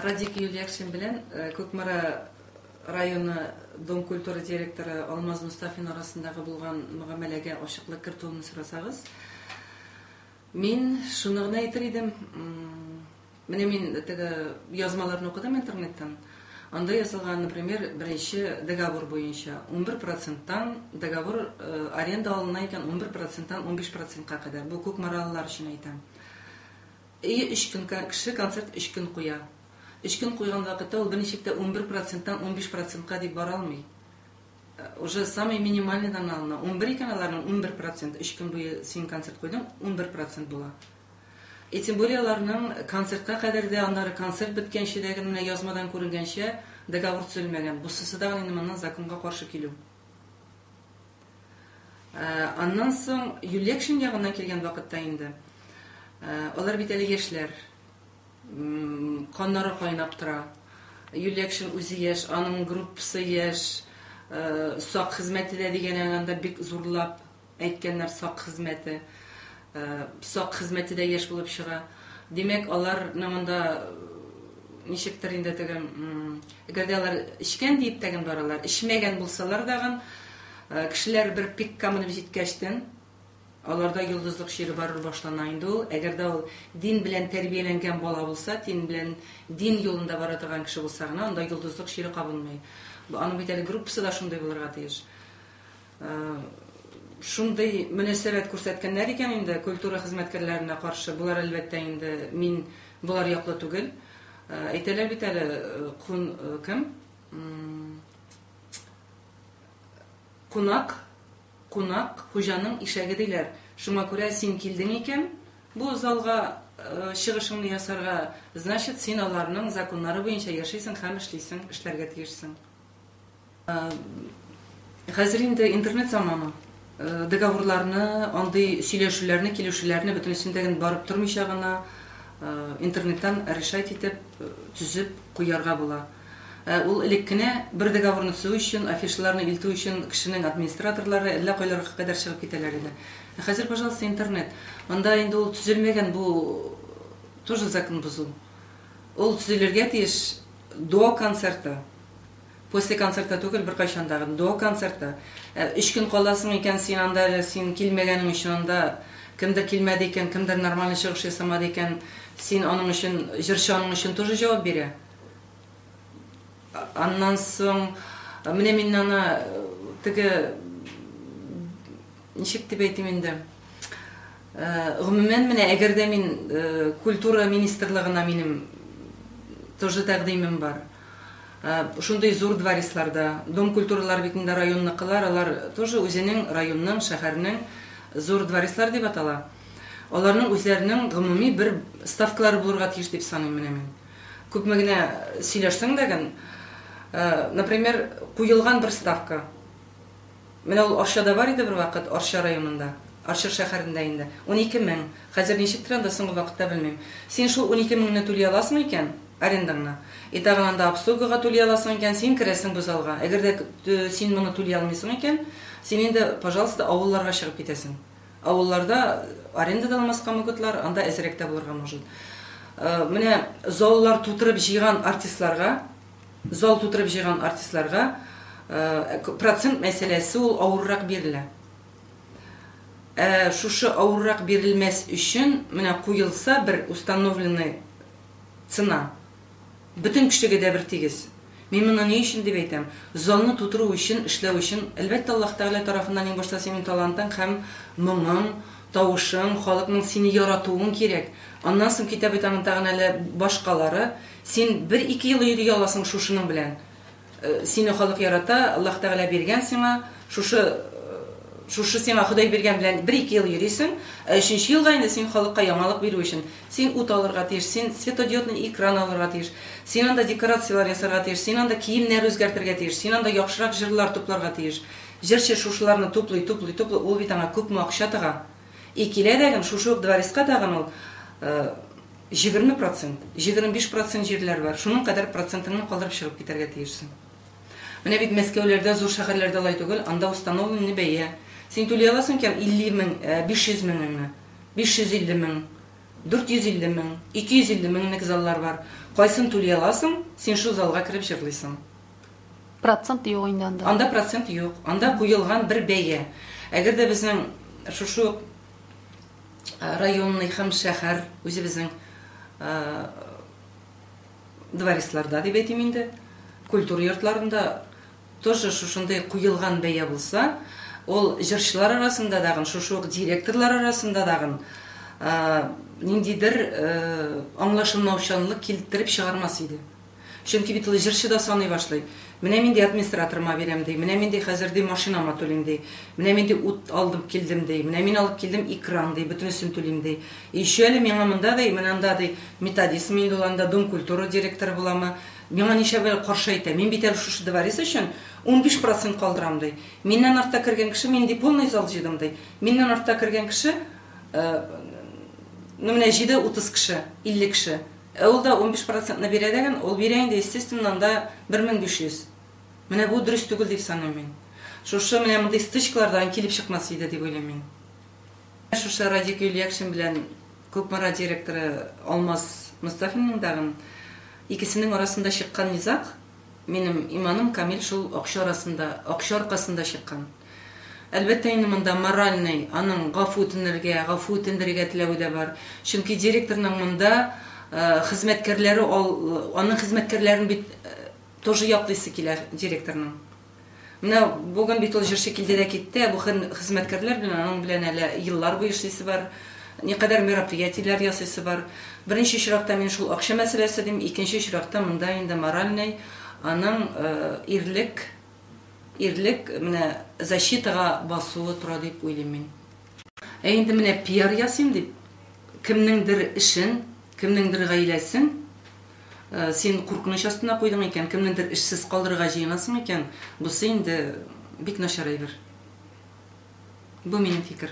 Радик Юльякшин белән Кукмара районы Дом культуры директоры Алмаз Мостафин арасындагы булган мөгамәләгә ачыклык кертүемне сорасагыз, мин шуны гына әйтер идем, менә мин теге язмаларны укыдым интернеттан, анда язылган, например, беренче договор буенча, унбер проценттан договор аренда алына икән, унбер проценттан унбиш процентка кадәр, бу кукмаралылар өчен әйтәм. Әйе, өч көн кеше концерт өч көн куя. Өч көн куйган вакытта ул берничек тә унбер проценттан унбиш процентка дип бара алмый. Уже самый минимальныйдан алына. Унбер икән аларның унбер процент, өч көн буе син концерт куйдың, унбер процент була. И тем более аларның концертка кадәр дә, аннары концерт беткәнче дә генә менә язмадан күренгәнчә договор төзелмәгән. Бусысы да гына инде моннан законга каршы килү. Аннан соң Юльякшин ягыннан килгән вакытта инде, алар бит әле яшьләр, каннары кайнап тора. Юльякшин үзе яшь, аның группасы яшь, сак хезмәте дә дигән әле анда бик зурлап әйткәннәр сак хезмәте. Сак хезмәте дә еш булып чыга. Димәк, алар ны монда ничектер инде тегем, әгәр дә алар эчкән диеп тәген баралар, эчмәгән булсалар дагын, кешеләр бер пикка менеп җиткәчтен, аларда йолдызлык чире барыр башлана инде ул. Әгәр дә ул дин белән тәрбияләнгән бала булса, дин белән, дин юлында бара торган кеше булса гына, анда йолдызлык чире кабынмый. Аның бит әле группасы да шундый булырга тиеш. Шундый мөнәсәбәт күрсәткәннәр икән инде культура хезмәткәрләренә каршы, болар әлбәттә инде мин болар яклы түгел. Әйтәләр бит әле кун кем? Кунак, кунак хуҗаның ишәге диләр. Шуңа күрә син килдең икән бу залга чыгышыңны ясарга, значит, син аларның законнары буенча яшисең һәм эшлисең, эшләргә тиешсең. Хәзер инде интернет заманы. Договорларны, андый сөйләшүләрне, килешүләрне бөтенесен дә барып тормыйча гына интернеттан решать итеп, төзеп куярга була. Ул элек кенә бер договорны төзү өчен, афишаларны илтү өчен кешенең администраторлары әллә кайларга кадәр чыгып китәләр иде. Ә хәзер, пожалуйста, интернет. Анда инде ул төзелмәгән, бу тоже закон бозу. Ул төзелергә тиеш. До концерта. После концерта түгел, беркайчан да. До концерта. Ә өч көн каласың икән, син анда әле, син килмәгәнең өчен анда кемдер килмәде икән, кемдер нормальный чыгыш ясамады икән, син аның өчен, җырчы аның өчен тоже җавап бирә. Аннан соң, менә мин аны теге Ничек дип әйтим инде, гомумән, менә әгәр дә мин культура министрлыгына минем тоже тәкъдимем бар. Шундый зур дворецларда, Дом культуралар бит инде районныкылар, алар тоже үзенең районның, шәһәрнең зур дворецлар дип атала. Аларның үзләренең гомуми бер ставкалары булырга тиеш дип саныйм менә мин. Күпме генә сөйләшсәң дә, например, куелган бер ставка. Менә ул Арча да бар иде бервакыт, Арча районында. Арчыр шәхәрендә инде. Унике мең. Хәзер ничектер анда, соңгы вакытта белмим. Син шул унике меңне түли аласың икән, арендаңны, и тагын анда обслугага түли аласың икән, син керәсең бу залга. Әгәр дә син моны түли алмыйсың икән, син инде, пожалуйста, авылларга чыгып китәсең. Авылларда аренда да алмаска могытлар, анда әзрәк тә булырга может. Менә заллар тутырып җыйган артистларга, Зал тутырып җыйган артистларга процент мәсьәләсе ул авыррак бирелә. Ә шушы авыррак бирелмәс өчен менә куелса бер установленный цена, бөтен кешегә дә бер тигез. Мин моны ни өчен дип әйтәм, залны тутыру өчен, эшләү өчен, әлбәттә, Аллаһ Тәгалә тарафыннан иң башта синең талантың һәм моңың, тавышың, халыкның сине яратуың кирәк. Аннан соң китә бит аның тагын әле башкалары. Син бер-ике ел йөри аласың шушының белән. Сине халык ярата, Аллаһ Тәгалә биргән сиңа, шушы шушы сиңа Ходай биргән белән бер-ике ел йөрисең, ә өченче елга инде син халыкка яңалык бирү өчен, син ут алырга тиеш, син светодиодный экран алырга тиеш, син анда декорацияләр ясарга тиеш, син анда киемнәр үзгәртергә тиеш, син анда яхшырак җырлар тупларга тиеш. Җырчы шушыларны туплый, туплый, туплый, ул бит аңа күпме акча тыга. И килә дәгем, шушы ук дворецка тагын ул җигерме процент, җигерме биш процент җирләр бар, шуның кадәр процентыңны калдырып чыгып китәргә тиешсең. Менә бит Мәскәүләрдә, зур шәһәрләрдә алай түгел, анда установленный бәя. Син түли аласың икән, илле мең, биш йөз меңеңне, биш йөз илле мең, дүрт йөз илле мең, ике йөз илле меңлек заллар бар. Кайсын түли аласың, син шул залга кереп җырлыйсың. Процент юк инде анда. Анда процент юк. Анда куелган бер бәя. Әгәр дә безнең шушы ук э, районный һәм шәһәр үзебезнең э, дворецларда дип әйтим инде, культура йортларында тоже шушындый куелган бәя булса, ул җырчылар арасында дагын, шушы ук директорлар арасында дагын э, ниндидер аңлашылмаучанлык килтереп чыгармас иде. Чөнки бит ул җырчы да саный башлый. Менә мин, ди, администраторыма бирәм, ди. Менә мин, ди, хәзер, ди, машинама түлим, ди. Менә мин, ди, ут алдым килдем, ди. Менә мин алып килдем экран, ди, бөтенесен түлим, ди. И еще әле миңа монда, ди, менә анда, ди, методистмы инде ул анда, Дом культуры директоры буламы, миңа ничәп әле каршы әйтә. Мин бит әле шушы дворец өчен унбиш процент калдырам, ди. Миннән артта кергән кеше, мин, ди, полный зал җыйдым, ди. Миннән артта кергән кеше, ну, менә җыйды утыз кеше, илле кеше. Ә ул да унбиш процентны бирә дәген, ул бирә инде, естественно, анда бер мең биш йөз. Менә бу дөрес түгел дип саныйм мин. Шушы менә мондый стычкалар да килеп чыкмас иде дип уйлыйм мин. Шушы Радик Юльякшин белән Кукмара директоры Алмаз Мостафинның дагын икесенең арасында чыккан низаг, Минем иманым камил шул акча арасында, акча аркасында чыккан. Әлбәттә инде монда моральный, аның гафу үтенергә, гафу үтендерергә теләве дә бар. Чөнки директорның монда хезмәткәрләре, аның хезмәткәрләрен бит тоже яклыйсы килә директорның. Менә бүген бит ул җырчы килде дә китте, ә бу хезмәткәрләр белән аның белән әле еллар буе эшлисе бар, никадәр мероприятиеләр ясыйсы бар. Беренче очракта мин шул акча мәсьәләсе дим, икенче очракта монда инде моральный аның ирлек ирлек менә защитага басуы тора дип уйлыйм мин. Ә инде менә пиар ясыйм дип, кемнеңдер эшен, кемнеңдер гаиләсен син куркыныч астына куйдың икән, кемнеңдер эшсез калдырырга җыенасың икән, бусы инде бик начар әйбер. Бу минем фикер.